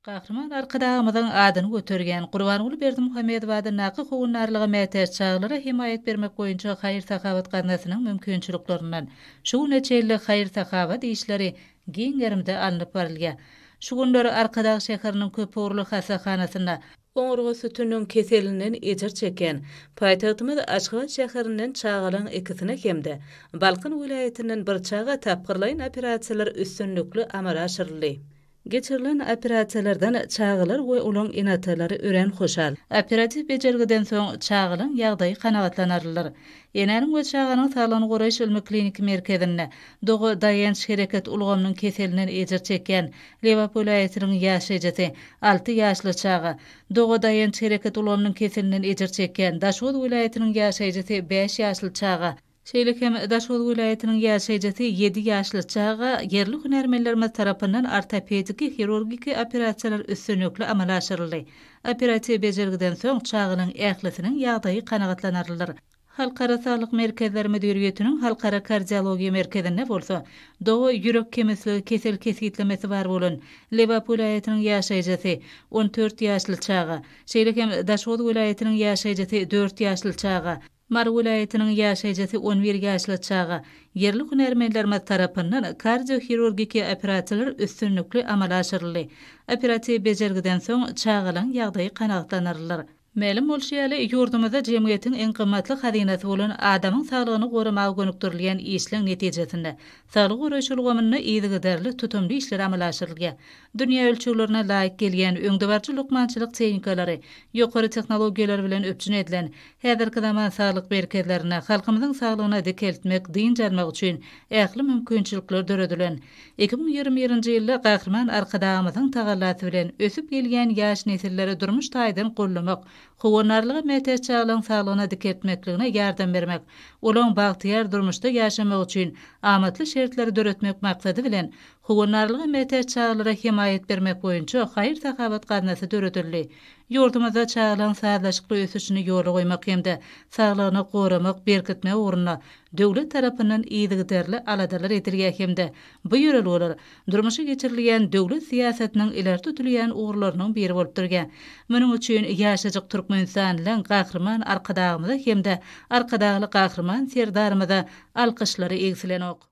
Gahryman Arkadagymyzyň adyny göterýän Gurbanguly Berdimuhamedow adyndaky Howandarlyga mätäç çagalara hemaýat bermek boýunça haýyr-sahawat gaznasynyň mümkinçiliklerinden şu güne çenli haýyr-sahawat işleri giň gerimde alnyp barylýar. Şu günler Arkadag şäheriniň köpugurly hassahanasynda Oňurga sütüniniň keselinden ejir çeken, paýtagtymyz Aşgabat şäherinden çagalaň ikisini hem-de Balkan welaýatyndan bir çaga tapgyrlaýyn operasiýalar üstünlikli amala aşyryldy. Geçirilen operasiýalardan çagalar we olaň ene-atalary örän hoşal. Operatiw bejergiden soň çagalaň ýagdaýy kanagatlanarlydyr. Enäniň we çaganyň saglygyny goraýyş ylmy-kliniki merkezinde doga-daýanç-hereket ulgamynyň keselinden ejir çekýän Lebap welaýatynyň ýaş ejesi, alty ýaşly çaga, doga daýanç hereket ulgamynyň keselinden ejir çekýän Daşoguz welaýatynyň ýaşaýjysy, bäş ýaşly çaga, şeýle hem Daşoguz welaýatynyň ýaşaýjysy, ýedi ýaşly çaga, ýerli hünärmenlerimiz tarapyndan ortopediki hirurgiki operasiýalar üstünlikli amala aşyryldy. Operatiw bejergiden soň çaganyň ählisiniň ýagdaýy kanagatlanarlydyr. Halkara saglyk merkezleri müdiriýetiniň Halkara kardiologiýa merkezinde bolsa, doga ýürek kemirsligi kesel kesgitlemesi bar bolan Lebap welaýatynyň ýaşaýjysy, on dört ýaşly çaga, şeýle hem Daşoguz welaýatynyň ýaşaýjysy, dört ýaşly çaga, Mary welaýatynyň ýaşaýjysy, on bir ýaşly çaga, ýerli hünärmenlerimiz tarapyndan kardiohirurgiki operasiýalar üstünlikli amala aşyryldy. Operatiw bejergiden soň çagalaryň ýagdaýy kanagatlandyrylar. Mälim bolşy ýaly, ýurdumyzda jemgyýetiň iň gymmatly hazynasy bolan adamyň saglygyny goramaga gönükdirilýän işleň netijesinde, saglygy goraýyş ulgamynda yzygiderli tutumly işler amala aşyrylýar. Dünýä ölçeglerine laýyk gelýän öňdebaryjy lukmançylyk tehnikalary, ýokary tehnologiýalar bilen üpjün edilen häzirki zaman saglyk merkezlerinde halkymyzyň saglygyna dikeltmek, dynç almak üçin ähli mümkinçilikler döredilen. Iki müň ýigrimi birinji ýylda Gahryman Arkadagymyzyň tagallasy bilen, ösüp gelýän ýaş nesilleri durmuş taýdan goldamak, howandarlyga mätäç çagalaryň saglygyna dikeltmekligine ýardam bermek, olaryň bagtyýar durmuşda ýaşamagy üçin amatly şertleri döretmek maksady bilen, Howandarlyga mätäç çagalara hemaýat bermek boýunça haýyr-sahawat gaznasy döredildi. Ýurdumyzda çagalaryň sazlaşykly ösüşini ýola goýmak hem-de saglygyny goramak, berkitmek ugrunda döwlet tarapyndan yzygiderli aladalar edilýär hem-de bu ýörelgeler durmuşa geçirilýän döwlet syýasatynyň ileri tutulýan ugurlarynyň biri bolup durýar. Munuň üçin ýaşajyk türkmenistanlyň Gahryman Arkadagymyza hem-de Arkadagly Gahryman Serdarymyza alkyşlary egsilenok.